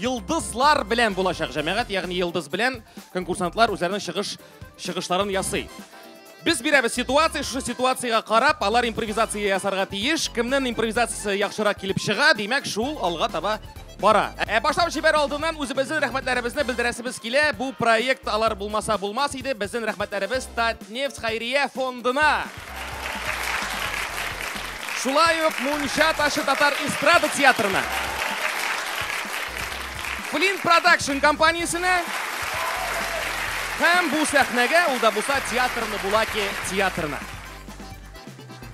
Йолдызлар белән булачак җәмәгать, ягъни йолдыз белән конкурсантлар үзләренең чыгыш чыгышларын ясый. Без бирәбез ситуация, шушы ситуациягә карап, алар импровизация ясарга тиеш. Кемнең импровизациясе яхшырак килеп чыга, димәк, шул алга таба бара. Ә башлап җибәр алдыннан үзебезнең рәхмәтләребезне белдерәсебез килә. Бу проект алар булмаса булмас иде. Безнең рәхмәтләребез Нефть хәйрия фондына. Шулай ук Мунча ташы татар эстрада театрына. Флин Продакшн компаниясенә һәм бу сәхнәгә ул да булса театрны Булаки театрына.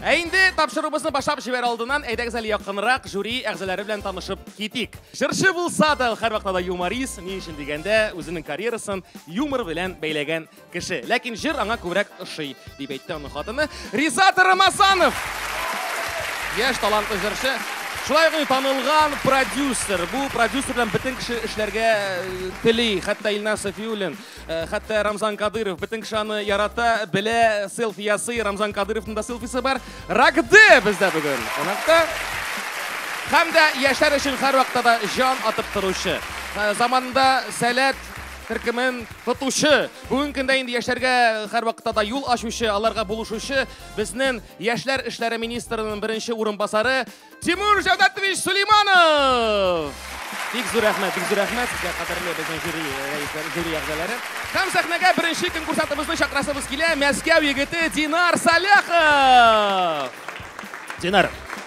Ә инде тапшыруыбызны башлап җибәр алдыннан, әйдәгез әле якынрак жюри әгъзалары белән танышып китик. Җырчы булса да, һәрвакытта да юморист, ни өчен дигәндә, үзенең карьерасын юмор белән бәйләгән Кеше. Ләкин җыр аңа күбрәк ошый, дип әйтте аның хатыны Ризат Рамазанов. Яшь талантлы җырчы. Шулай ук танылган продюсер. Бу продюсер белән бөтен кеше эшләргә э, тели. Хәтта Илнар Софиуллин, э, хәтта Рамзан Кадыров. Бөтен кеше аны ярата, белә, селфи ясый. Рамзан Кадыровның да селфисы бар. Рагды бездә бүген. Кунакта. Һәм дә яшәр өчен һәрвакытта да җан атып торучы. Э, заманында сәләт Төркемен тотучы, бүгенге көндә инде яшьләргә һәрвакытта да юл ачучы, аларга булышучы безнең яшьләр эшләре министрының беренче урынбасары Тимур Җәүдәтович Сулейманов. Бик зур рәхмәт, бик зур рәхмәт сезгә кадерле безнең жюри рәисләре, жюри әгъзалары. Һәм сәхнәгә беренче конкурсантыбызны чакрасыбыз килә, Мәскәү егете Динар Саляхов. Динар,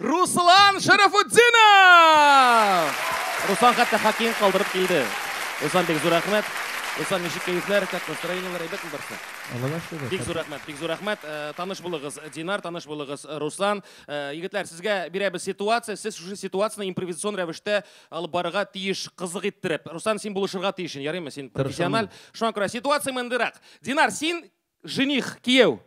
Руслан Шәрәфутдинов! Руслан хәтта хоккейны калдырып килде. Руслан, бик зур рәхмәт. Руслан, ничек кәефләр, как настроениеләр, әйбәтме барсы? Аллага шөкер. Бик зур рәхмәт, бик зур рәхмәт. Э, таныш булыгыз, Динар, таныш булыгыз, э, Руслан. Э, егетләр, сезгә бирәбез ситуация, сез шушы ситуацияне импровизацион рәвештә алып барырга тиеш, кызык иттереп. Руслан, син булышырга тиешен, ярыймы? Син профессиональ. Шуңа күрә ситуация мондыйрак. Динар, син Жених, кияү.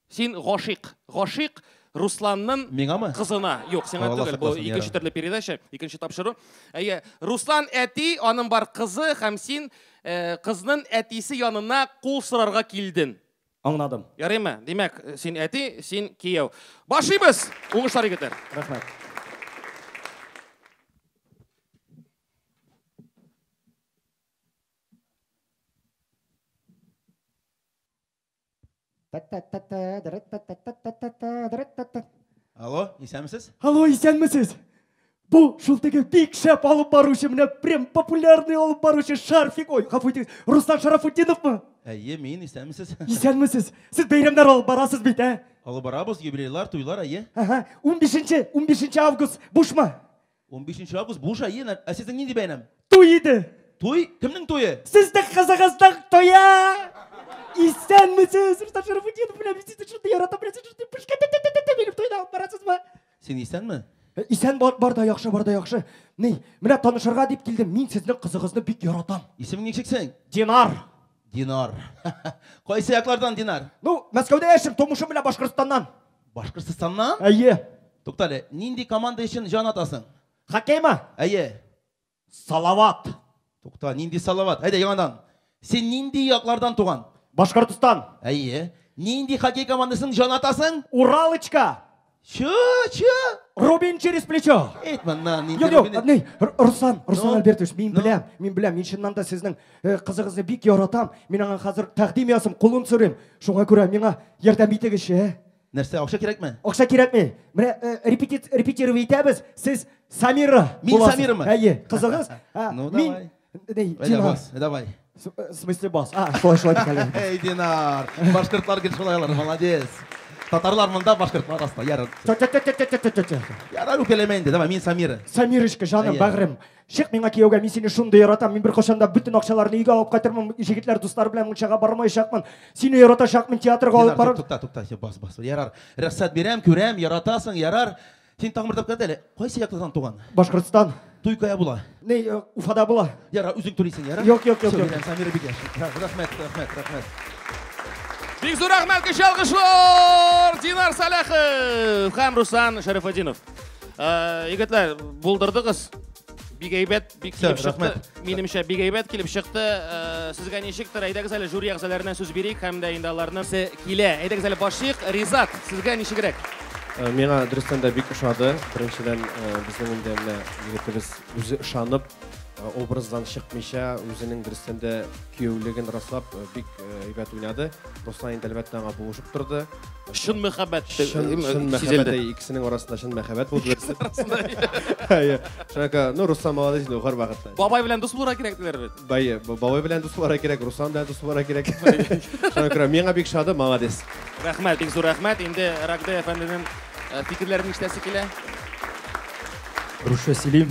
Син гашыйк. Гашыйк Русланның Миңамы? кызына. Юк, сиңа Алла түгел. Бу сакласын, икенче ярабби. төрле передача, икенче тапшыру. Әйе, Руслан әти, аның бар кызы һәм син э, кызның әтисе янына кул сорарга килден. Аңладым. Ярыймы? Димәк, син әти, син кияү. Башлыйбыз! Уңышлар, егетләр! Рәхмәт. Алло, исәнмесез? Алло, исәнмесез? Бу шул теге бик шәп алып баручы, менә прям популярный алып баручы Шарфик, ой, гафу итегез, Руслан Шарафутдиновмы? Әйе, мин, исәнмесез? Исәнмесез. Сез бәйрәмнәр алып барасыз бит, ә? Алып барабыз, юбилейлар, туйлар, әйе. Ага, 15 15 август бушмы? 15 август буш ай, ена, ә сезнең нинди бәйрәм? Туй иде. Туй? Кемнең туе? Сезнең кызыгызның туе! Исәнмесез, Рустам Шәрәфутдинов белән без сезне шундый ярата беләсез, шундый пышка тә-тә-тә-тә минем туйда барасызмы? Син исәнме? Э, исән бар, бар да яхшы, бар да яхшы. Ни, менә танышырга дип килдем. Мин сезнең кызыгызны бик яратам. Исемең ничек синең? Динар. Динар. Кайсы яклардан Динар? Ну, Мәскәүдә яшим, тумышым белән Башкортстаннан. Башкортстаннан? Әйе. Туктале, нинди команда өчен җан атасың? Хоккеймы? Әйе. Салават. Тукта, нинди салават? Әйдә, яңадан. Син нинди яклардан туган? Башкортстан. Әйе. Нинди хоккей командасын җан атасың? Уралочка. Чу, чу. Рубин через плечо. Әйт моннан, нинди Юк, юк, Руслан, Руслан ну, Альбертович, мин ну. беләм, мин беләм, мин чыннан да сезнең Э, кызыгызны бик яратам. Мин аңа хәзер тәкъдим ясым, кулын сөрим. Шуңа күрә миңа ярдәм итегезче. Э? Нәрсә, акча кирәкме? Акча кирәкми. Менә э, репетит репетировать итәбез. Сез Самира. Мин Самирамы? Әйе, кызыгыз. Ә, ну, мин... давай. Эй, Динар. Давай. Э, в смысле бас? А, шулай, шулай дикәле. Эй, Динар. Башкортлар гел шулай алар, молодец. Татарлар монда, башкортлар аста, ярар. Тя-тя-тя-тя-тя-тя-тя. Ярар, үкәләмә инде. Давай, мин Самира. Самирочка, жаным, бәгърем. Чык миңа кияүгә, мин сине шундый яратам. Мин беркайчан да бөтен акчаларны өйгә алып кайтырмын. Җегетләр дуслары белән мунчага бармаячакмын. Сине яратачакмын, театрга алып барыр. Тукта, тукта, бас, бас. Ярар. Рөхсәт бирәм, күрәм, яратасың, ярар. Син тагын бер тапкыр әйт әле. Кайсы яклыдан туган? Башкортстан. Туй кая була? Ни, э, Уфада була. Ярар, үзең түлисең, ярар? Юк, юк, юк, юк. Самира бик яхшы. Рәхмәт, рәхмәт, рәхмәт. Бик зур рәхмәт, кече алкышлар! Динар Саляхов һәм Руслан Шәрифетдинов. Э, егетләр, булдырдыгыз. Бик әйбәт, бик Всё, килеп чыкты. рәхмәт. Минемчә, бик әйбәт килеп чыкты. Э, Сезгә ничектер, әйдәгез әле жюри әгъзаларына сүз бирик һәм дә инде аларны се- килә. Әйдәгез әле башлыйк. Ризат, сезгә ничегрәк? Э, Миңа дөрестән дә бик ошады. Беренчедән, э, безнең инде менә егетебез үзе ышанып, образдан чыкмыйча үзенең дөрестән дә кияүлеген раслап э, бик э, әйбәт уйнады. Руслан инде әлбәттә аңа булышып торды. Чын мәхәббәт Чын, чын мәхәббәт сизелде. әй, икесенең арасында чын мәхәббәт булды. берсе. Әйе. Шуңа күрә, ну Руслан молодец инде гар вакытта. Бабай белән дус булырга кирәк диләр бит. Бай, бабай белән дус буларга кирәк, Руслан белән дус буларга кирәк. Шуңа күрә миңа бик шады, молодец. Рәхмәт, бик зур рәхмәт. Инде Рагде әфәнденең э, фикерләрен ишетәсе килә. Русча сөйлим.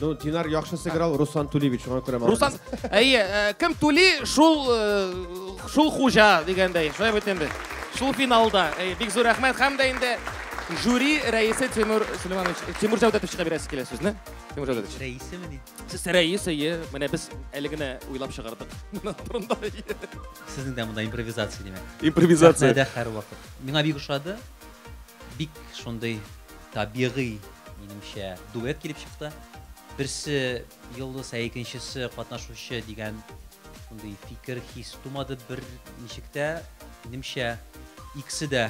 Ну, Динар яхшы сыграл, Руслан түли бит, шуңа күрә Руслан, әйе, э, кем түли, шул э, шул хуҗа дигәндәй. Шулай бит инде. Шул финалда. Әйе, бик зур рәхмәт һәм дә инде жюри рәисе Тимур Сулейманович, Тимур Җәүдәтовичка бирәсе килә сезне. Тимур Җәүдәтович. Рәисе мени? Сез рәис, әйе. Менә без әле генә уйлап чыгардык. Турында. Сезнең дә монда импровизация димәк. Импровизация. Сәхнәдә һәрвакыт. Миңа бик ошады. Бик шундый Табигый, минемчә, дуэт килеп чыкты. Берсе Йолдыз, ә икенчесе катнашучы дигән шундый фикер, хис тумады бер ничек тә. Минемчә, икесе дә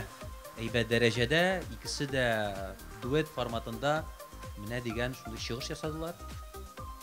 әйбәт дәрәҗәдә, икесе дә дуэт форматында менә дигән шундый чыгыш ясадылар.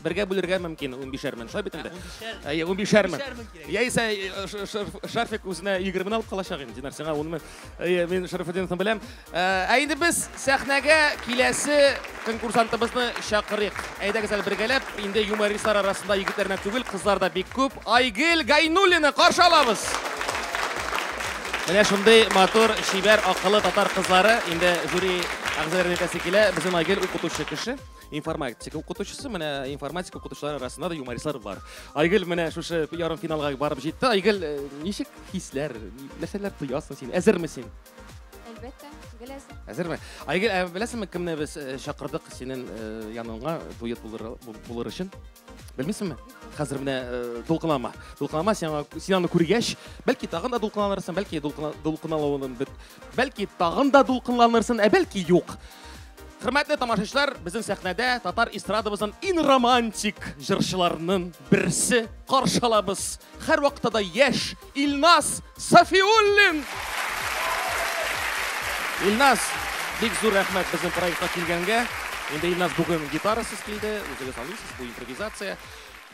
Бергә бүлергә мөмкин унбишәр мең, шулай бит инде? Әйе, унбишәр мең. Яисә э, Шафик үзенә егермени алып калачак инде, Динар, сиңа ун мең. Әйе, мин Шәрәфетдиновны беләм. Э, ә инде без сәхнәгә киләсе конкурсантыбызны чакырыйк. Әйдәгез әле бергәләп, инде юмористлар арасында егетләрнә түгел, кызлар да бик күп. Айгел Гайнуллина каршы алабыз. Менә шундый матур, шибәр, акыллы татар кызлары инде жюри әгъзалары әйтәсе килә. Безнең Айгел укытучы кеше. информатика укытучысы менә информатика укытучылар арасында да юмористлар бар айгөл менә шушы ярым финалга барып җитте айгөл э, ничек хисләр нәрсәләр тоясың син әзерме син әлбәттә гел әзер әзерме айгөл ә беләсеңме кемне без э, чакырдык синең э, яныңа дуэт булыр, булыр өчен белмисеңме хәзер менә дулкынлама дулкынлама сиңа син аны күргәч бәлки тагын да дулкынланырсың бәлки дулкынлануың бит Бәлки тагын да дулкынланырсын, ә бәлки юк. Хөрмәтле тамашачылар, безнең сәхнәдә татар эстрадабызның ин романтик җырчыларының берсе каршы алабыз. Һәрвакытта да яшь Илназ Сафиуллин. Илназ, бик зур рәхмәт безнең проектка килгәнгә. Инде Илназ бүген гитарасыз килде, үзегез алыйсыз, бу импровизация.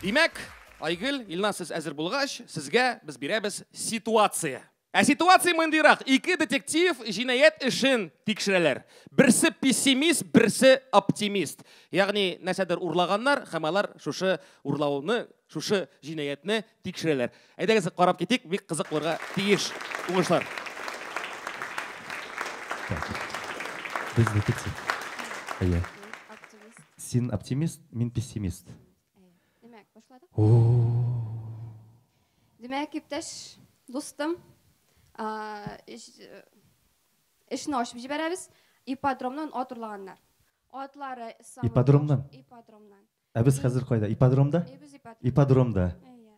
Димәк, Айгөл, Илназ, сез әзер булгач, сезгә без бирәбез ситуация. Ә ситуация мондыйрак, ике детектив җинаять эшен тикшерәләр. Берсе пессимист, берсе оптимист. Ягъни нәрсәдер урлаганнар һәм алар шушы урлауны, шушы җинаятьне тикшерәләр. Әйдәгез карап китик, бик кызык булырга тиеш. Уңышлар. Без детектив. Әйе. Син оптимист, мин пессимист. Димәк, башладык. Димәк, иптәш, дустым, эшне ачып җибәрәбез. Ипподромнан ат урлаганнар. Атлары самый... Ипподромнан? Ипподромнан. Ә без хәзер кайда? Ипподромда? Әйе, без ипподромда. Ипподромда. Әйе.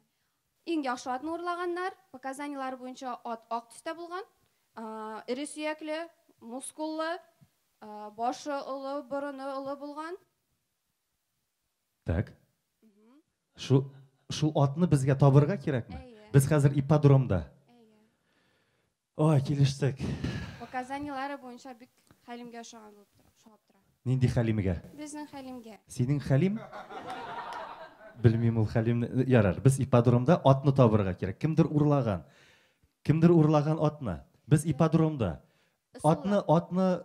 Иң яхшы атны урлаганнар. Показаниеләр буенча ат ак төстә булган. Эре сөякле, мускуллы, башы олы, борыны олы булган. Так. Шул шул атны безгә табырга кирәкме? Без хәзер ипподромда. Ой, килештек. Показаниеләре буенча бик Хәлимгә ошаган булып тора. Ошап тора. Нинди Хәлимгә? Безнең Хәлимгә. Синең Хәлим? Белмим ул Хәлимне. Э, ярар, без ипподромда атны табырга кирәк. Кемдер урлаган. Кемдер урлаган атны. Без ипподромда. Атны, атны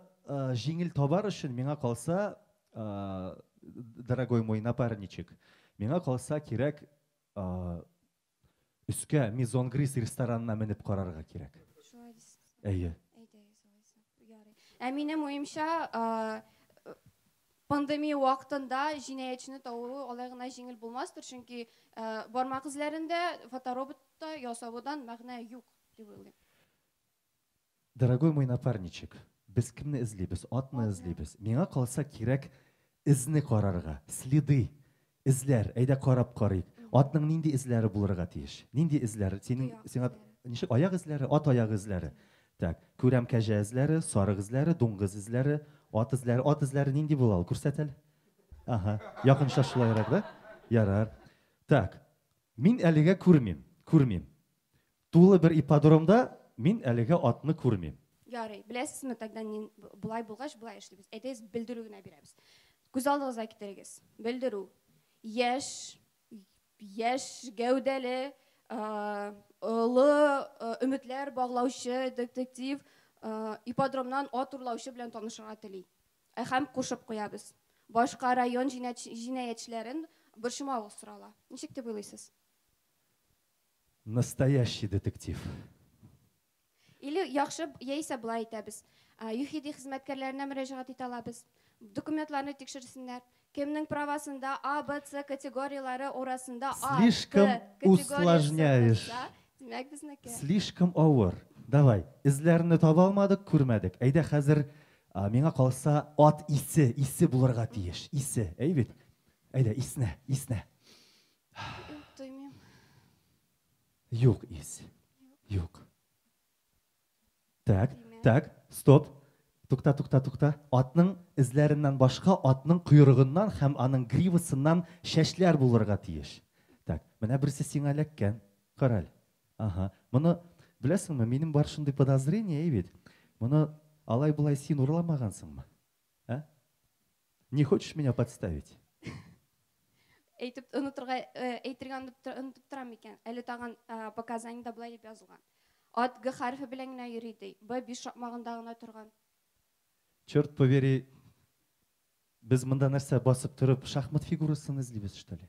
җиңел табар өчен, миңа калса, дорогой мой напарничек, миңа калса кирәк өскә Мизонгрис ресторанына менеп карарга кирәк. Шулай дисез. Әйе. Әйдәгез алайса. Ярый. Ә минем уемча, пандемия вакытында җинаятьчене табу алай гына җиңел булмастыр, чөнки бармак эзләрен дә фотороботта ясаудан мәгънә юк дип уйлыйм. Дорогой мой напарничек, без кемне эзлибез? Атны эзлибез. Миңа калса, кирәк эзне карарга, следы, эзләр, әйдә карап карыйк. Атның нинди эзләре булырга тиеш? Нинди эзләр? Синең, сиңа ничек, аяк эзләре? Ат аяк эзләре. Так, күрәм кәҗә эзләре, сарык эзләре, дуңгыз эзләре, ат эзләре. Ат эзләре нинди була ул? Күрсәт әле. Аһа, якынча шулайрак, да? Ярар. Так, мин әлегә күрмим, күрмим. Тулы бер ипподромда мин әлегә атны күрмим. Ярый, беләсезме, тогда нин, б- болай булгач, болай эшлибез. Әйдәгез, белдерү генә бирәбез. Күз алдыгызга китерегез. Белдерү. Яшь, яшь гәүдәле, а, олы а, өметләр баглаучы детектив а, ипподромнан ат урлаучы белән танышырга тели. Ә һәм кушып куябыз. Башка район җинәч, җинаятьчеләрен борчымавыгыз сорала. Ничек дип уйлыйсыз? Настоящий детектив. Или яхшы, яисә болай итәбез. ЮХИДИ хезмәткәрләренә мөрәҗәгать итә алабыз. Документларны тикшерсеннәр. Кемнең правасында А, Б, С категорияләре урасында А, Т Слишком усложняешь. Димәк, безнеке. Слишком авыр. Давай, эзләрне таба алмадык, күрмәдек. Әйдә хәзер, миңа калса, ат исе, исе булырга тиеш. Исе, әй бит? Әйдә, иснә, иснә. Юк, тоймыйм. Юк, ис. Юк. Так, так, стоп. Тукта, тукта, тукта. Атның эзләреннән башка атның койрыгыннан һәм аның гривасыннан чәчләр булырга тиеш. Так, менә берсе сиңа эләккән. Караль. Ага. Моны беләсеңме? Минем бар шундый подозрение, әй бит. Моны алай-болай син урламагансыңмы? А? Не хочешь меня подставить? Әйтеп онытырга э, әйтергә онытып торам микән? Әле тагын э, показаниедә былай дип язылган. Ат г хәрефе белән генә йөри ди. Б биш шакмагында гына торган. Черт повери, без монда нәрсә басып торып шахмат фигурасын эзлибез, что ли?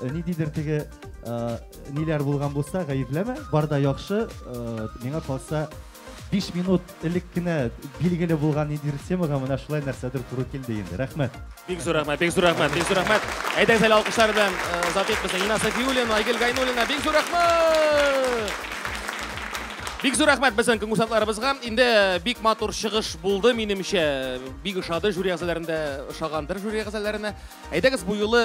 Э, ниндидер теге э, ниләр булган булса гаепләмә барда яхшы э, миңа калса 5 минут элек кенә билгеле булган ниндидер темага менә шулай нәрсәдер туры килде инде рәхмәт бик зур рәхмәт бик зур рәхмәт бик зур рәхмәт әйдәгез әле алкышлар белән озат итмәсен инна сафиуллина айгөл гайнуллина бик зур рәхмәт Бик зур рәхмәт безнең конкурсантларыбызга. Инде э, бик матур чыгыш булды, минемчә. Бик ошады жюри әгъзаларында, ошагандыр жюри әгъзаларына. Әйдәгез бу юлы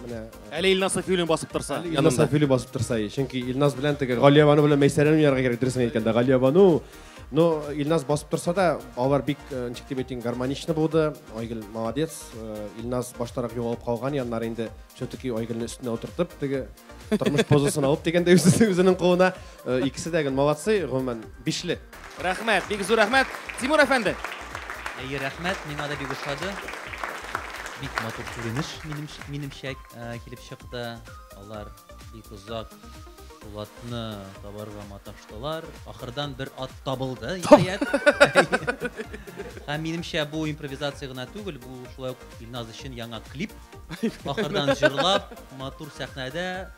Менә Әле Илназ Сафиуллин басып торса. Илназ Сафиуллин басып торса, чөнки Илназ белән теге Галия Бану белән Мәйсәрәне уйнарга кирәк, дөресен әйткәндә, Галия Бану. Но Илназ басып торса да, алар бик э, ничек дип әйтим, гармонично булды. Айгөл молодец. Э, Илназ баштарак югалып калган, яннары инде все-таки Айгөлне өстенә утыртып, теге тормыш позасын алып дигәндә үзенең кулына. Э, икесе дә гел молодцы, гомумән, бишле. Рәхмәт, бик зур рәхмәт. Тимур әфәнде. Әйе, рәхмәт, миңа да бик ошады. Бик матур күренеш минемчә, минемчә килеп чыкты. Алар бик озак Булатны табарга маташтылар. Ахырдан бер ат табылды, ниһаять. Һәм минемчә бу импровизация гына түгел, бу шулай ук Илназ өчен яңа клип. Ахырдан җырлап, матур сәхнәдә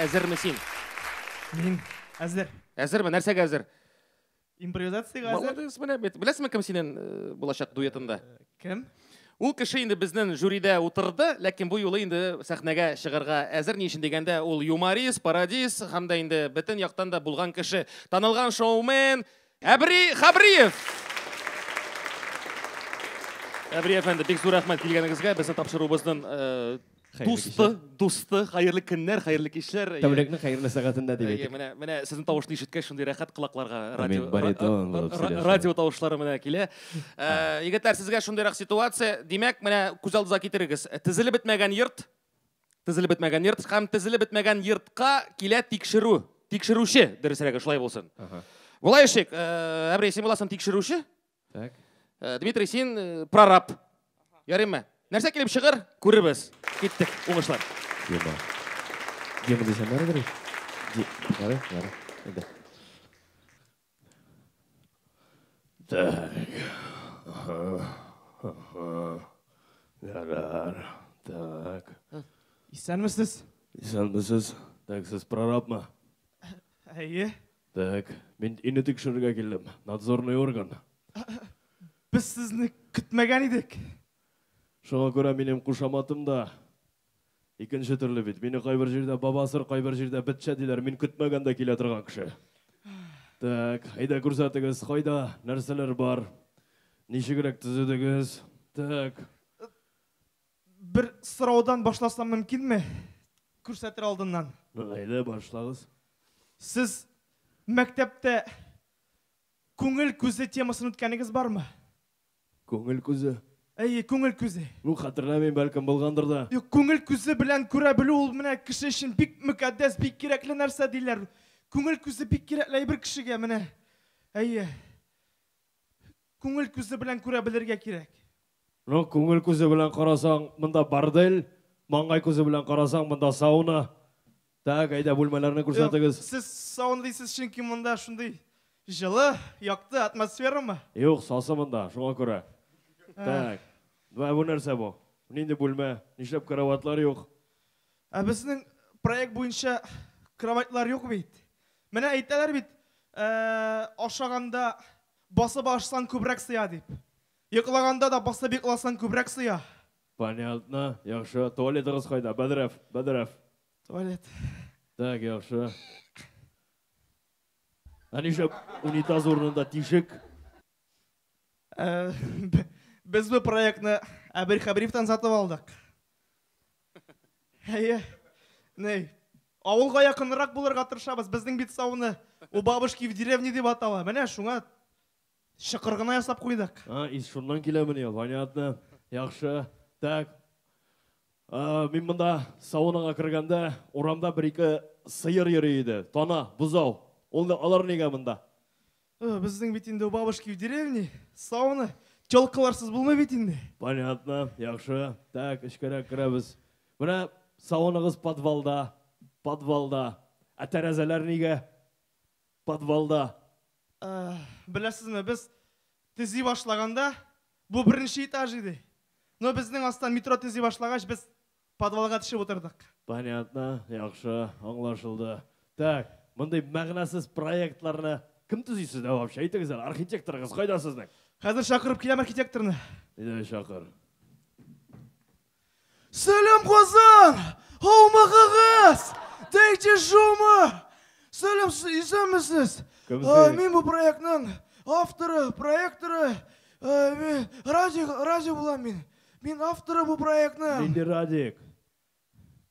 Әзерме син? Мин әзер. Әзерме? Нәрсәгә әзер? Импровизациягә әзер. Молодец, менә бит. Беләсеңме кем синен э, булачак дуэтында? Э, кем? Ул кеше инде безнен жюридә утырды, ләкин бу юлы инде сәхнәгә чыгарга әзер. Ни өчен дигәндә, ул юморист, пародист һәм дә инде бөтен яктан да булган кеше. Танылган шоумен Әбри Хабриев! Әбри әфәнде, бик зур рәхмәт килгәнегезгә. Безнең тапшыруыбызның дусты, дусты, хәерле көннәр, хәерле кичләр. Тәүлекнең хәерле сәгатендә дип әйтик. Менә, менә сезнең тавышны ишеткәч, шундый рәхәт колакларга радио баритон радио тавышлары менә килә. Егетләр, сезгә шундыйрак ситуация. Димәк, менә күз алдыгызга китерегез. Тезелеп бетмәгән йорт, Тезелеп бетмәгән йорт һәм тезелеп бетмәгән йортка килә тикшерү. Тикшерүче, дөресрәге, шулай булсын. Ага. Болай эшлик, э, Әбрей, син буласың тикшерүче. Так. Э, Дмитрий, син э, прораб. Ярыймы? Нәрсә килеп чыгыр? Күребез. Киттек. Уңышлар. Дима. Дима дисәм, бәргәр. Ди, ярый, ярый. Иде. Так. Ага. Ага. Ярар. Так. Исәнмесез? Исәнмесез. Так, сез прорабмы? Әйе. Так, мин ине тикшерергә килдем. Надзорный орган. Без сезне көтмәгән идек. Шуңа күрә минем кушаматым да Икенче төрле бит. Мине кайбер җирдә бабасыр, кайбер җирдә бетчә диләр. Мин көтмәгәндә килә торган кеше. Так, әйдә күрсәтегез, кайда, нәрсәләр бар? Ничегрәк төзедегез? Так. Бер сораудан башласам мөмкинме? Күрсәтер алдыннан. Әйдә, башлагыз. Сез мәктәптә күңел күзе темасын үткәнегез бармы? Күңел күзе? Әйе, күңел күзе. Ну, хәтерләмим, бәлкем, булгандыр да. Юк, күңел күзе белән күрә белү ул менә кеше өчен бик мөкатдәс, бик кирәкле нәрсә, диләр. Күңел күзе бик кирәкле әйбер кешегә, менә. Әйе. Күңел күзе белән күрә белергә кирәк. Ну, күңел күзе белән карасаң, монда бордель, маңгай күзе белән карасаң, монда сауна. Так, әйдә бүлмәләрне күрсәтегез. Сез сауна дисез, чөнки монда шундый җылы, якты атмосферамы? Юк, сасы монда, шуңа күрә. Так. Бә бу нәрсә бу? Нинди бүлмә? Нишләп кроватлар юк? Ә безнең проект буенча кроватлар юк бит. Менә әйтәләр бит, э, ашаганда басып ашсаң күбрәк сыя дип. Йоклаганда да басып йокласаң күбрәк сыя. Понятно, яхшы. Туалетыгыз кайда? Бәдрәф, бәдрәф. Туалет. Так, яхшы. Ә нишләп унитаз урынында тишек? Э, б- Без бу проектны Әбел Хәбировтан сатып алдык. Әйе. Ней. Авылга якынрак булырга тырышабыз. Безнең бит сауны у бабушки в деревне дип атала. Менә шуңа Чокыр гына ясап куйдык. А, ис шуннан киләмени? Понятно. Яхшы. Так. А, мин монда саунаға кергәндә, урамда бер-ике сыер йөри иде. Тана, бозау. Ул алар нигә монда? Э, безнең бит инде у бабушки в деревне сауна. Тёлкаларсыз булмый бит инде. Понятно. Яхшы. Так, эчкәрәк керәбез. Менә сауныгыз подвалда. Подвалда. Ә тәрәзәләр нигә? Подвалда. Беләсезме, без төзи башлаганда, бу беренче этаж иде. Но безнең астан метро төзи башлагач, без подвалга төшеп утырдык. Понятно, яхшы, аңлашылды. Так, мондый мәгънәсез проектларны кем төзи сездә вообще? Әйтегез әле, архитекторыгыз кайда сезнең? Хәзер чакырып киләм архитекторны. Әйдә, чакыр. Сәлам Казан! Һаумыгыгыз! Дәйче шумы! Сәлам, исәнмесез! Мин бу проектның авторы, проекторы, Радик, Радик булам мин. Мин авторы бу проектның. Нинди Радик?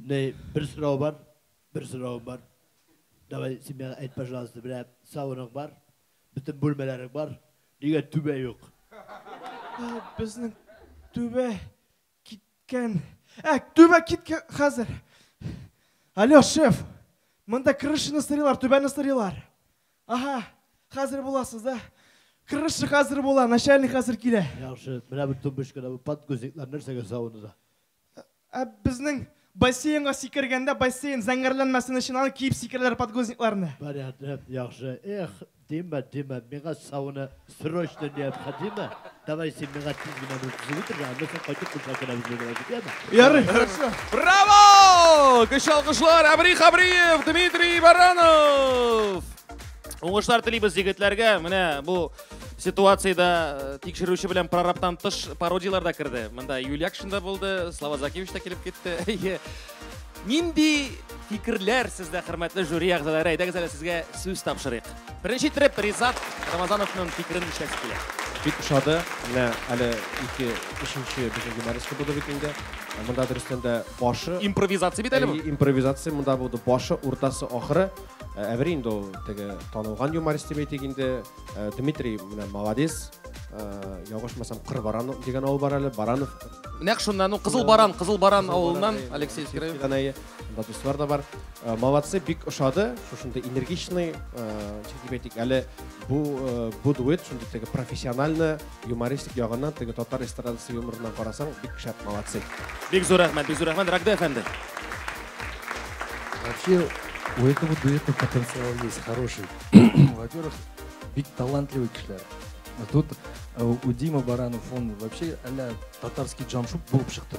Ней, бер сорау бар, бер сорау бар. Давай семьяга әйт, пожалуйста, бирә сауыныг бар, бөтен бүлмәләрек бар, нигә түбә юк? Безнең түбә киткән. Ә, түбә киткән хәзер. Алло, шеф. Монда крышаны сырыйлар, түбәне сырыйлар. Ага, хәзер буласыз, да? Крыша хәзер була, начальник хәзер килә. Яхшы, менә бу тумбочкада бу подгузниклар нәрсәгә савынуда? Ә безнең бассейнга сикергәндә бассейн зәңгәрләнмәсен өчен аны киеп сикерәләр подгузникларны. Понятно, яхшы. Эх, димә, димә, миңа сауна срочно необходимо. Давай син миңа тиз генә бу кызны үтер, аннан соң кайтып кунса керәбез мин белән, яме? Ярый, хорошо. Браво! Көчле алкышлар, Әбри Хабриев, Дмитрий Баранов! Уңышлар телибез егетләргә. Менә бу ситуациядә э, тикшерүче белән прорабтан тыш пародияләр дә керде. Монда Юлякшин да булды, Слава Закевич та килеп китте. Әйе. Нинди фикерләр сездә, хөрмәтле жюри әгъзалары? Әйдәгез әле сезгә сүз тапшырыйк. Беренче итеп Ризат Рамазановның фикерен ишәсе килә. Бик ошады. Менә әле ике өченче безнең юмористка булды бит инде. Монда дөрестән дә башы Импровизация бит әле бу. Әйе, импровизация монда булды. Башы, уртасы, ахыры. Ә әбер инде ул теге танылган юморист дип әйтик инде. Ә, Дмитрий менә молодец. Ә, Ялгышмасам, Кырбаран дигән авыл бар әле, Баранов. Нәкъ шуннан ул Кызыл Баран, Кызыл Баран авылыннан Баран, Алексей Алексей Искраев. Искраев. Анда дуслар да бар. Ә, Молодцы, бик ошады. Шушындый энергичный, ә, ничек дип әйтик, әле бу э, бу дуэт шундый теге профессиональный Юмористик ягыннан теге татар эстрадасы юморыннан карасаң, бик шәп, молодцы. Бик зур рәхмәт, бик зур рәхмәт, Рагда әфәнде. Вообще, у этого дуэта потенциал есть хороший. Во-первых, бик талантливый кешеләр. А Тут э, у Димы Баранов, он вообще а татарский джамшуп булып чыкты.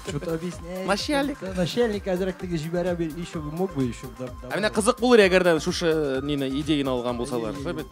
Что-то объясняет. Начальник. Да, Начальник әзрәк теге җибәрә бир, еще бы мог бы еще. да- А давай. менә кызык булыр, әгәр дә шушы э, нине идеяны алган булсалар. Әйе, әйе. Сәбит.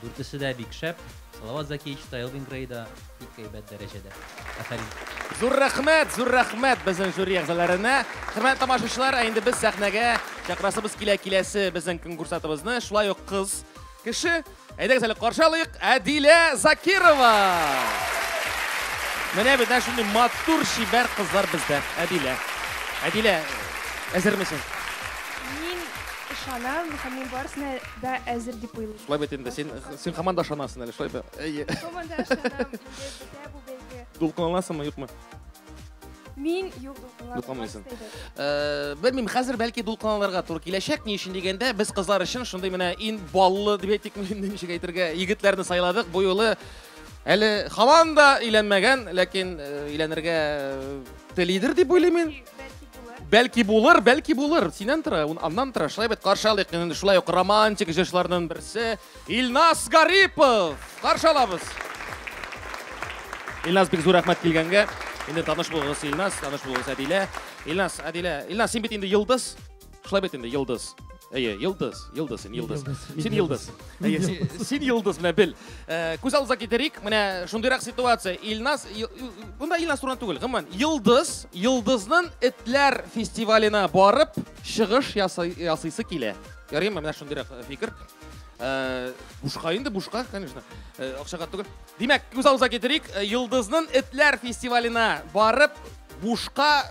Дүртесе дә бик шәп. Салават Закиевич та, Элвин Грей да бик әйбәт дәрәҗәдә. Афәрин. Зур рәхмәт, зур рәхмәт безнең жюри әгъзаларына. Хөрмәтле тамашачылар, ә инде без сәхнәгә чакрасыбыз килә киләсе безнең конкурсатыбызны, шулай ук кыз кеше. Әйдәгез әле каршы алыйк, Әдилә Закирова. Менә бездә шундый матур чибәр кызлар бездә. Әдилә. Әдилә, әзермесең? Мин ышанам һәм мин барысына да әзер дип уйлыйм. Шулай бит инде. Син син һаман да ышанасың әле, шулай бит? Әйе. Һаман да ышанам. Дулкынланасыңмы, юкмы? Мин юк дулкынланмыйсың. Э, белмим, хәзер бәлки дулкынланырга туры киләчәк. Ни өчен дигәндә, без кызлар өчен шундый менә ин баллы дип әйтик, ничек әйтергә, егетләрне сайладык. Бу юлы әле һаман да өйләнмәгән, ләкин э, өйләнергә э, телидер дип уйлыйм мин. Бәлки булыр, бәлки булыр. Синен тора, ун аннан тора. Шулай бит каршалык. Инде шулай ук романтик җырчыларның берсе Илнас Гарипов. Каршалабыз. Илнас бик зур рәхмәт килгәнгә. Инде таныш булыгыз Илнас, таныш булыгыз Әдилә. Илнас, Әдилә. Илнас, син бит инде йолдыз. Шулай бит инде, Йылдыз. Әйе, Йылдыз, Йылдыз, син Йылдыз. Син Йылдыз. Әйе, син Йылдыз менә бел. Э, күз алдына китерик, менә шундыйрак ситуация. Илназ, бунда Илназ турында түгел, гомумән, Йылдыз, Йылдызның этләр фестиваленә барып чыгыш ясыйсы килә. Ярыймы, менә шундыйрак э, фикер. Э, бушка инде, бушка, конечно. Акчага түгел. Димәк, күз алдына китерик, Йылдызның этләр фестиваленә барып бушка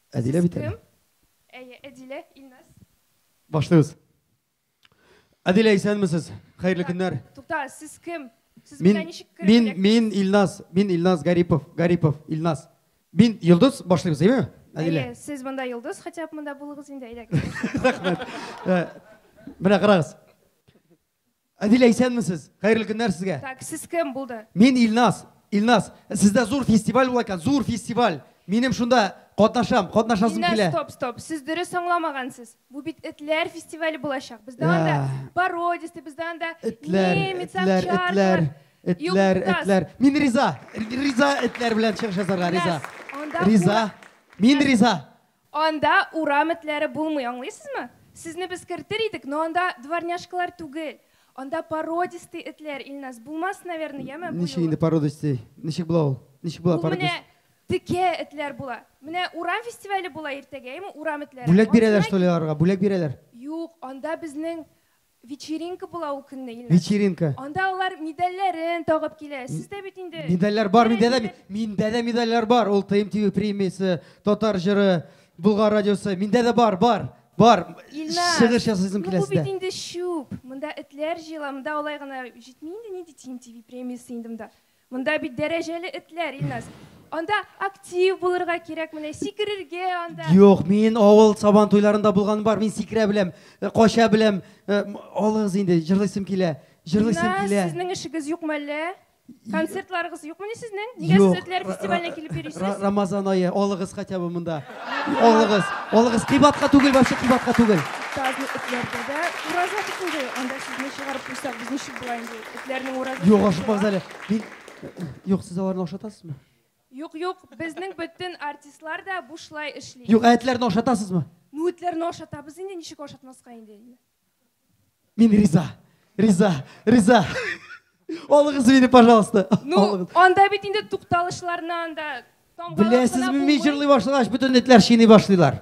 Әдилә бит әле. Әйе, Әдилә, Илназ. Башлыйбыз. Әдилә, исәнмесез? Хәерле көннәр. Тукта, сез кем? Сез мин, ничек Мин, мин Илназ, мин Илназ Гарипов, Гарипов Илназ. Мин Йолдыз, башлыйбыз, әйеме? Әдилә. Әйе, сез монда Йолдыз, хотя бы монда булыгыз инде, әйдәгез. Рәхмәт. Менә карагыз. Адилә, исәнмесез? Хәерле көннәр сезгә. Так, сез кем булды? Мин Илназ. Илназ, сездә зур фестиваль була икән, зур фестиваль. Минем шунда катнашам, катнашасым килә. Илназ, стоп, стоп. Сез дөрес аңламагансыз. Бу бит этләр фестивале булачак. Бездә анда пародисты, бездә анда немец, овчар. Этләр, этләр. Мин риза. Риза этләр белән чыгыш ясарга риза. Риза. Мин риза. Анда урам этләре булмый, аңлыйсызмы? Сезне без кертер идек, но анда дворняжкалар түгел, анда породистый этләр, Ильназ, булмас, наверное, яме, бу Ничек инде юлы. породистый? Ничек була ул? Ничек була Ул менә породистый? текә этләр була. Менә урам фестивале була иртәгә, әйме, урам этләре. Бүләк бирәләр, Ансына что ли, аларга? Бүләк бирәләр? Юк, анда безнең Вечеринка була ул көнне, Илнар. Вечеринка. Анда алар медальләрен тагып килә. Сез дә бит инде. Медальләр бар миндә дә. Миндә дә медальләр бар. Ул ТМ ТВ премиясе, Татар җыры, Болгар радиосы. Миндә дә бар, бар. Бар. Илнар. Чыгыш ясыйсым килә сездә. Бу бит инде чүп. Монда этләр җыела. Монда алай гына җитми инде. Нинди ТМ ТВ премиясе инде монда. Монда бит дәрәҗәле этләр, Илназ. Анда актив булырга кирәк, менә сикерергә анда. Юк, мин авыл сабан туйларында булганым бар, мин сикерә беләм, э, кача беләм. Э, м, Алыгыз инде, җырлыйсым килә. Җырлыйсым Илназ, килә. сезнең эшегез юкмы әллә? Концертларыгыз юкмыни сезнең? Нигә Юк, сез этләр ра- фестиваленә ра- килеп ра- йөрисез? Рамазан ае, алыгыз хотя бы монда. Алыгыз, алыгыз, кыйбатка түгел, вообще кыйбатка түгел. Тазлы этләрдә дә ураза бит инде. Анда сезне чыгарып куйсак, без ничек була инде? Этләрнең уразы. Юк, ашыкмагыз әле. Мин Юк, сез аларны ашатасызмы? Юк, юк, безнең бөтен артистлар да бушлай эшли. Юк, ә этләрне ашатасызмы? Ну, этләрне ашатабыз инде, ничек ашатмаска инде. Мин риза. Риза, риза. Алыгыз мине, пожалуйста. Ну, анда бит инде тукталышларны анда тамгалап Беләсезме, мин җырлый башлагач, бөтен этләр шийный башлыйлар.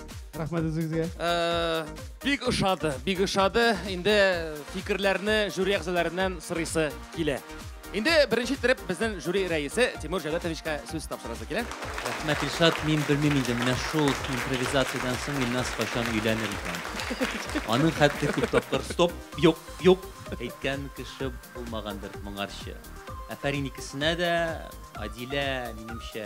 Рәхмәт үзегезгә. Э, бик ошады, бик ошады. Инде фикерләрне жюри әгъзаларыннан сорыйсы килә. Инде беренче иттереп безнең жюри рәисе Тимур Җәүдәтовичка сүз тапшырасы килә. Рәхмәт, Илшат. Мин белмим инде, менә шул импровизациядән соң Илназ кайчан өйләнер икән. Аның хәтле күп тапкыр стоп, юк, юк әйткән кеше булмагандыр моңарчы. Афәрин икесенә дә, Адилә, минемчә,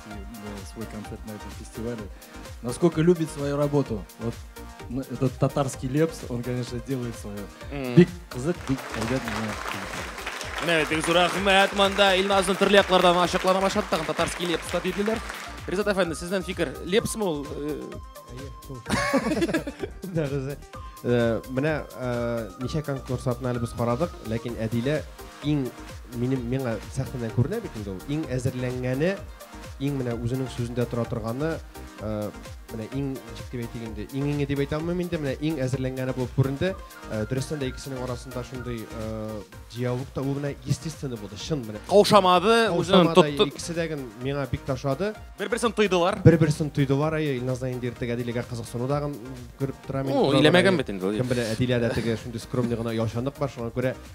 свой концерт на этом фестивале. Насколько любит свою работу. Вот ну, этот татарский лепс, он, конечно, делает свое. Бик кызык, бик әйбәт миңа. Менә бик зур рәхмәт монда Илназның төрле яклардан ачыклана башлады, тагын татарский лепс та диделәр. Ризат әфәнде, сезнең фикер, лепсме ул? Да, Риза. Э, менә э, ничә конкурс атны әле без карадык, ләкин Әдилә Иң минем миңа сәхнәдән күренә бит инде ул. Иң әзерләнгәне, иң менә үзенең сүзендә тора торганы, э, менә иң ничек дип әйтик инде, иң иңе дип әйтә алмыйм инде, менә иң әзерләнгәне булып күренде. Э, Дөрестән дә икесенең арасында шундый э, диалог та ул менә естественный булды, чын менә. Каушамады, үзен Каушамады, тотты. Икесе дә ген миңа бик тә ошады. Бер-берсен тойдылар. Бер-берсен тойдылар, әйе, Илназдан инде иртәг Әдиләгә кызыксыну да ген күреп торам инде. Ул Торалар, иләмәгән әйе. бит инде ул. Кем белә, Әдиләдә теге шундый скромный гына оялчанлык бар, шуңа күрә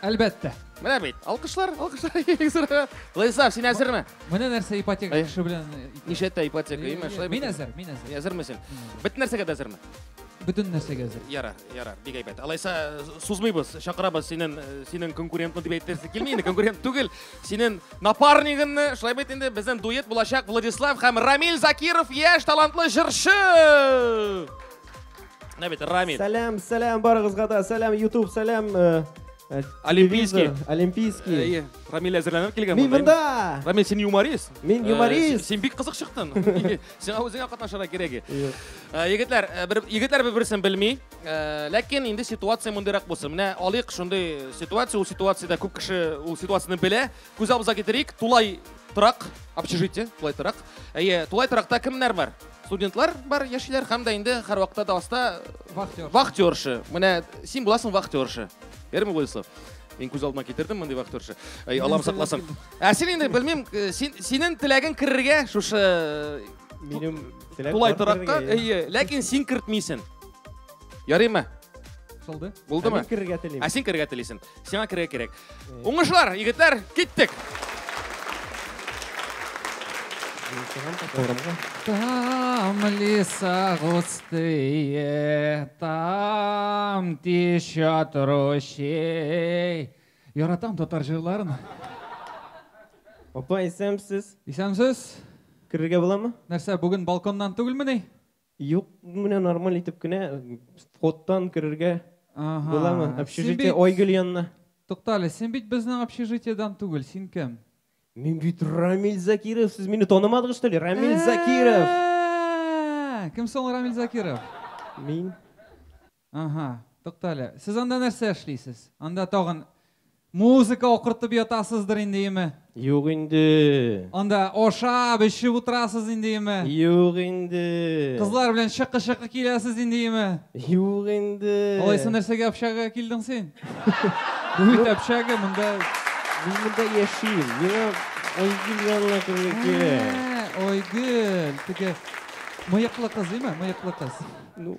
Әлбәттә. Менә бит. Алкышлар, алкышлар. Владислав, син әзерме? Менә нәрсә ипотека кеше белән. Ничә тә ипотека, имә, шулай. Мин әзер, мин әзер. Әзерме син? Бөтен нәрсәгә дә әзерме? Бөтен нәрсәгә әзер. Яра, яра, бик әйбәт. Алайса сузмыйбыз, чакырабыз синен, синен конкурентны дип әйттерсе килми, инде конкурент түгел. Синен напарнигынны, шулай бит инде безнең дуэт булачак Владислав һәм Рамил Закиров, яшь талантлы җырчы! Менә бит Рамиль. Сәлам, сәлам барыгызга да. Сәлам YouTube, сәлам э, э, Олимпийский. телевизор, Олимпийский. Әйе, Рамиль әзерләнеп килгән. Мин монда. монда. Рамиль, син юморист. Мин Э, юморист. Син бик кызык чыктың. Сиңа үзеңә катнашырга кирәк. и. Э, Егетләр, э, бер егетләр бер-берсен белми. Э, Ләкин инде ситуация мондыйрак булсын. Менә алыйк шундый ситуация, ул ситуациядә күп кеше ул ситуацияне белә. Күз алдыбызга китерик, тулай торак, общежитие, тулай торак. Әйе, тулай торакта кемнәр бар? Студентлар бар, яшиләр һәм дә инде һәрвакытта да аста Вахтер. вахтерша. Менә син буласың вахтерша. Ярме Владислав? Мин күз алдыма китердем мондый вахтерша. Әй, Аллам сакласын. Ә син инде белмим, э, син синең теләгең керергә шушы э, Минем теләк тулай бар торакка, керергә, иә. әйе, ләкин син кертмисен. Ярыймы? Шылды. Ә Булдымы? мин керергә телим. Ә син керергә телисен. Сиңа керә кирәк. Уңышлар, егетләр, киттек! Там леса густые, там течет ручей. Яратам татар җырларын. Апа, исәнмесез. Исәнмесез. Керергә буламы? Нәрсә, бүген балконнан түгелмени? Юк, менә нормаль итеп кенә входтан керергә буламы? Общежитие Айгөл янына. Тукта әле, син бит безнең общежитиедән түгел, син кем? Мин бит Рамил Закиров, сез мине танымадыгыз что ли? Рамил Закиров! Кем соң Рамил Закиров? Мин. Аһа, туктале. Сез анда нәрсә эшлисез? Анда тагын музыка акыртып ятасыздыр инде, име? Юк инде. Анда ашап, эчеп утырасыз инде, име? Юк инде. Кызлар белән чыкы-чыкы киләсез инде, име? Юк инде. Алайса нәрсәгә общага килдең син? Бу бит общага, монда Мин монда яшим. Миңа Айгөл янына кергән кирәк. Ә, Айгөл, теге мыеклы кыз, име? Мыеклы кыз. Ну,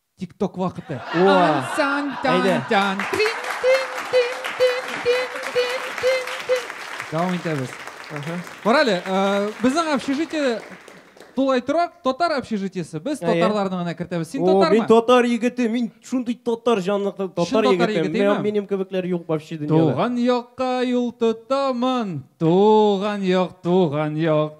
Тикток вакыты. Дәвам итәбез. Карале, безнең общежитие тулай торак, татар общежитиесе. Без татарларны гына кертәбез. Син татармы? Мин татар егете, мин шундый татар җанлы татар егете. Минем кебекләр юк вообще дөньяда. Туган якка юл тотамын, туган як, туган як.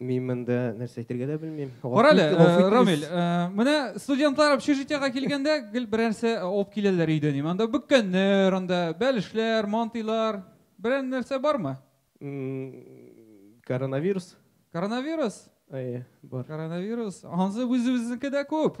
Мин монда нәрсә әйтергә дә белмим. Кара әле, Рамил, менә студентлар общежитиега килгәндә гел берәр нәрсә алып киләләр өйдән. Анда бөккәннәр, анда бәлешләр, мантыйлар. Берәр нәрсә бармы? Коронавирус. Коронавирус? Әйе, бар. Коронавирус. Ансы үзебезнеке дә күп.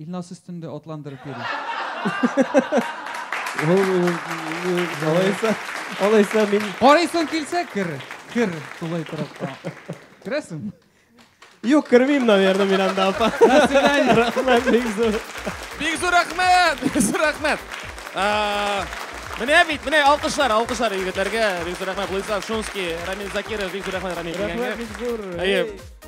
Илназ өстендә атландырып йөри. Алайса, алайса мин... Карыйсың килсә, кер, кер, тулай торакка. Керәсең? Юк, кермим, наверное, мин анда апа. Рахмет, бик зур. Бик зур рахмет, бик зур рахмет. Менә бит, менә алкышлар, алкышлар егетләргә. Бик зур рахмет, Владислав Шумский, Рамил Закиров, бик зур рахмет, Рамил. Рахмет, бик зур.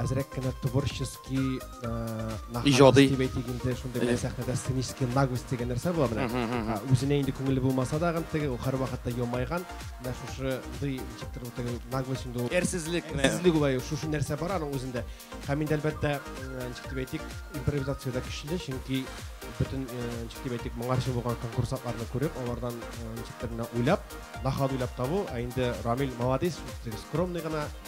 әзрәк кенә творческий иҗади дип әйтик инде шундый бер сәхнәдә сценический наглость дигән нәрсә була менә үзенә инде күңеле булмаса да теге ул һәрвакытта елмайган менә шушы ди ничектер теге наглость инде ул әрсезлек әрсезлек ул шушы нәрсә бар аның үзендә һәм инде әлбәттә ничек дип әйтик импровизациядә көчле чөнки бөтен ничек дип әйтик моңарчы булган конкурсантларны күреп алардан ничектер менә уйлап нахал уйлап табу ә инде рамил молодец скромный гына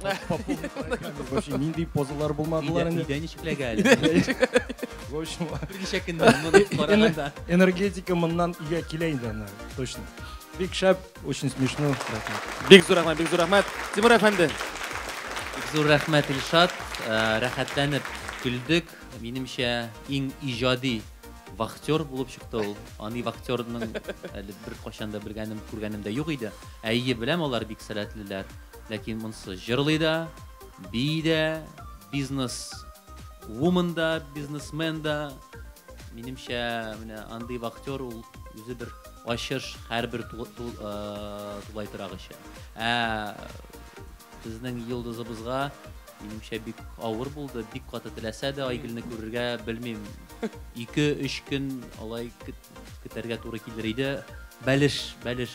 Вообще ниндей позалар булмадылар инде. Өйдә ничекләгә әле. В общем, берничә көннән моны караганда. Энергетика моннан өйгә килә инде аны, точно. Бик шәп, очень смешно. Бик зур рәхмәт, бик зур рәхмәт. Тимур әфәнде. Бик зур рәхмәт, Илшат. Э, рәхәтләнеп көлдек. Минемчә, иң иҗади вахтер булып чыкты ул. Аны вахтерның әле бер кашанда белгәнем, күргәнем дә юк иде. Әйе, беләм, алар бик сәләтлеләр. Ләкин монсы җырлый да, бии дә, бизнес вумен да, бизнесмен да. Минемчә, менә андый вахтер ул үзе бер ачыш һәрбер тулай торак өчен. Ә безнең йолдызыбызга минемчә бик авыр булды, бик каты теләсә дә Айгөлне күрергә белмим. 2-3 көн алай көтәргә туры килер иде. Бәлеш, бәлеш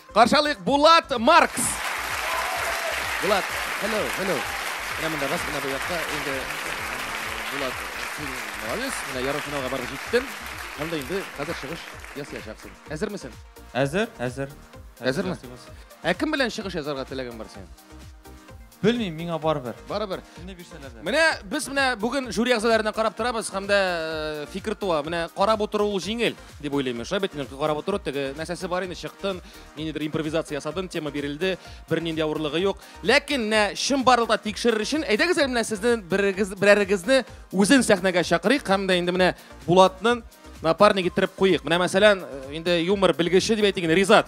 Каршы алыйк, Булат Маркс. Булат, hello, hello. Менә монда рас менә бу якта инде Булат, син молодец, менә ярым финалга барып җиттең. Анда инде хәзер чыгыш ясаячаксың. Әзермесең? Әзер, әзер. Әзерме? Ә кем белән чыгыш язарга теләгең бар синең? Белмим, миңа барыбер. Барыбер. Менә бирсәләр дә. Менә без менә бүген жюри әгъзаларына карап торабыз һәм дә э, фикер туа. Менә карап утыру ул җиңел. дип уйлыйм. Шулай бит, инде, карап утыру, теге нәрсәсе бар инде, чыктын, ниндидер импровизация ясадым, тема бирелде, бернинди авырлыгы юк. Ләкин менә чынбарлыкта тикшерер өчен, әйдәгез әле менә сезнең берегез, берәрегезне үзен сәхнәгә чакырыйк һәм дә инде менә Булатны напарник иттереп куйыйк. Менә мәсәлән, инде юмор белгече дип әйтик инде, Ризат.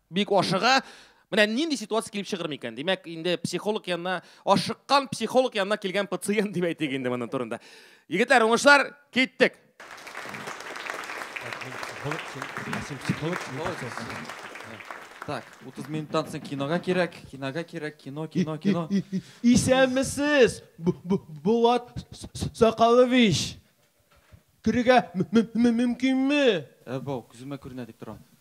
Бик ашыга. Менә нинди ситуация килеп чыгыр микән? Димәк, инде психолог янына, ашыккан психолог янына килгән пациент дип әйтик инде моның турында. Егетләр, уңышлар, киттек. Так, 30 минуттан соң кинога кирәк, кинога кирәк, кино, кино, кино. Исәнмесез, Булат Сакалович. Керергә мөмкинме? Ә бау, күземә күренә дип торам.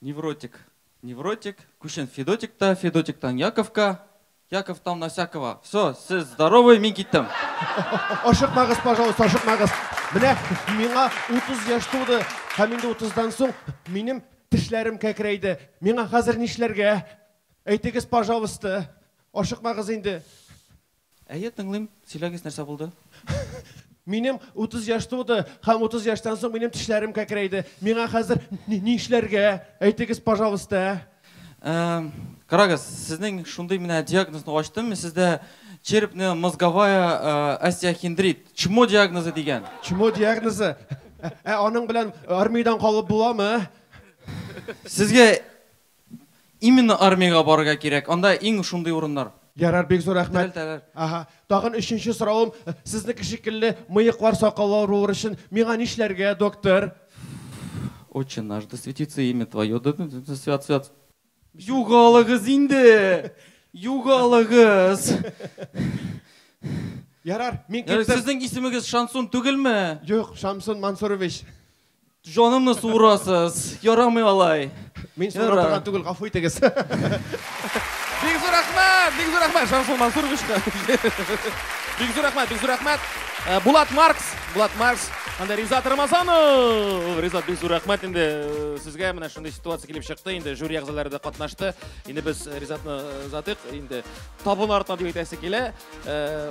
Невротик, невротик, күчен Федотик та, Федотиктан Яковка, Яковтан Насякова. Все, сез здоровый, мин киттем. Ашыкмагыз, пожалуйста, ашыкмагыз. Менә миңа 30 яшь туды, һәм инде 30-дан соң минем тешләрем кәкрәйде. Миңа хәзер нишләргә? Әйтегез, пожалуйста. Ашыкмагыз инде. Әйе, тыңлыйм, сөйләгез, нәрсә булды? Минем утыз яшь туды һәм утыз яшьтән соң минем тешләрем кәкрәйде. Миңа хәзер нишләргә? Әйтегез, пожалуйста. Карагыз, сезнең шундый менә диагнозны ачтым, мин сездә черепная мозговая остеохиндрит, чмо диагнозы дигән. Чмо диагнозы? Ә аның белән армиядән калып буламы? Сезгә Именно армиягә барырга кирәк, анда иң шундый урыннар. Ярар, бик зур рәхмәт. Терелтәләр. Аһа. Тагын өченче соравым, Сезнеке шикелле мыеклар, сакаллар авырулары өчен миңа нишләргә, доктор? Отче наш, да светится имя твое, да свят, свят. Югалыгыз инде! Югалыгыз! Ярар, мин киттем. Сезнең исемегез Шансун түгелме? Юк, Шамсун Мансурович. Җанымны суырасыз. Ярамый алай. Мин суыра торган түгел, гафу итегез. Бик зур рәхмәт, бик зур рәхмәт Шамсул Мансуровичка. Бик зур рәхмәт, бик зур рәхмәт. Э, Булат Маркс, Булат Маркс, анда Ризат Рамазанов. Ризат бик зур рәхмәт инде э, сезгә менә шундый ситуация килеп чыкты. Инде жюри әгъзалары да катнашты. Инде без э, Ризатны э, озатыйк. Инде табын артына дип әйтәсе килә. Э,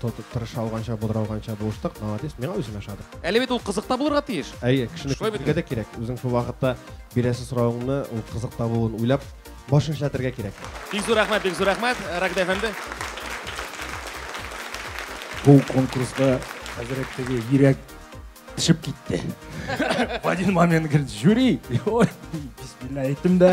Тотып тырыша алганча, булдыра алганча булыштык. Молодец, миңа үзем ошады. Әле бит ул кызыкта булырга тиеш. Әйе, кешене Шулай бит күрергә дә кирәк. Үзең шул вакытта бирәсе соравыңны ул кызык табуын уйлап, башын эшләтергә кирәк. Бик зур рәхмәт, бик зур рәхмәт, Рагда әфәнде. Бу конкурска хәзрәт теге йөрәк тишеп китте. В один момент говорит, жюри. Ой, бисмилла әйттем дә.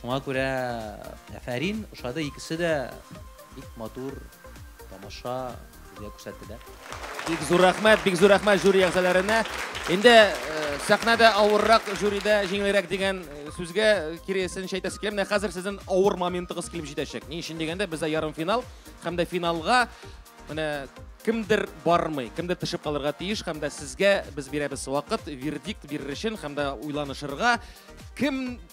Шуңа күрә әфәрин, ошады икесе дә бик матур тамаша безгә күрсәттеләр. Бик зур рәхмәт, бик зур рәхмәт жюри әгъзаларына. Инде сәхнәдә авыррак, жюридә җиңелрәк дигән сүзгә киресен әйтәсе килә. Менә хәзер сезнең авыр моментыгыз килеп җитәчәк. Ни өчен дигәндә, бездә ярымфинал һәм дә финалга менә кемдер бармый, кемдер төшеп калырга тиеш һәм дә сезгә без бирәбез вакыт, вердикт бирер өчен һәм дә уйланышырга, кем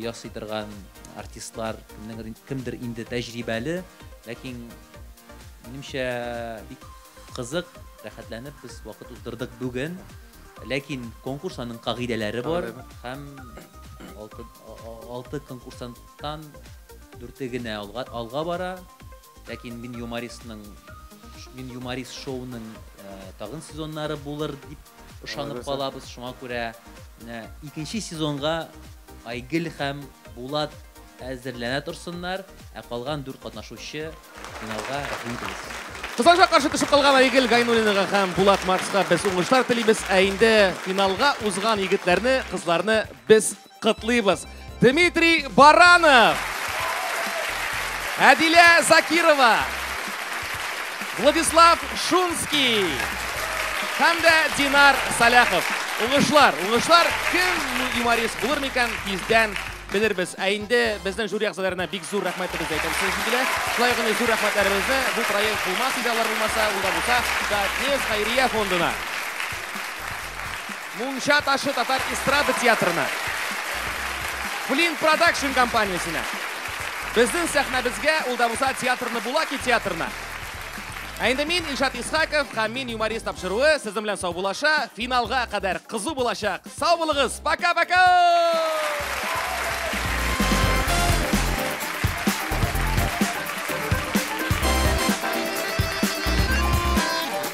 ясый торган артистлар, кемдер инде тәҗрибәле, ләкин минемчә бик кызык, рәхәтләнеп без вакыт уздырдык бүген. Ләкин конкурс аның кагыйдәләре бар һәм алты конкурсанттан дүрте генә алга бара. Ләкин мин юмористның мин юморист шоуның тагын сезоннары булыр дип ышанып калабыз. Шуңа күрә менә икенче сезонга Айгөл һәм Булат әзерләнә торсыннар, ә калган дүрт катнашучы финалга рәхим итегез. Кызганычка каршы төшеп калган Айгөл Гайнуллинага һәм Булат Марска без уңышлар телибез, ә инде финалга узган егетләрне, кызларны без Котлыйбыз! Дмитрий Баранов! Әдилә Закирова! Владислав Шунский! Һәм дә Динар Саляхов! Уңышлар! Уңышлар! Кем юморист булыр микән? Тиздән белербез. Ә инде безнең жюри әгъзаларына бик зур рәхмәтебезне әйтәбез сезнең җиңгилә. Шулай гына зур рәхмәтләребезне бу проект булмас иде алар булмаса, ул да булса, да Нефть хәйрия фондына. Мунча ташы татар эстрада театрына, Флинт Продакшн компаниясенә, безнең сәхнәбезгә, ул да булса театрны Булаки театрына. Ә инде мин, Илшат Исхаков һәм мин юморист тапшыруы сезнең белән саубулаша, финалга кадәр кызу булачак. Сау булыгыз, пока-пока!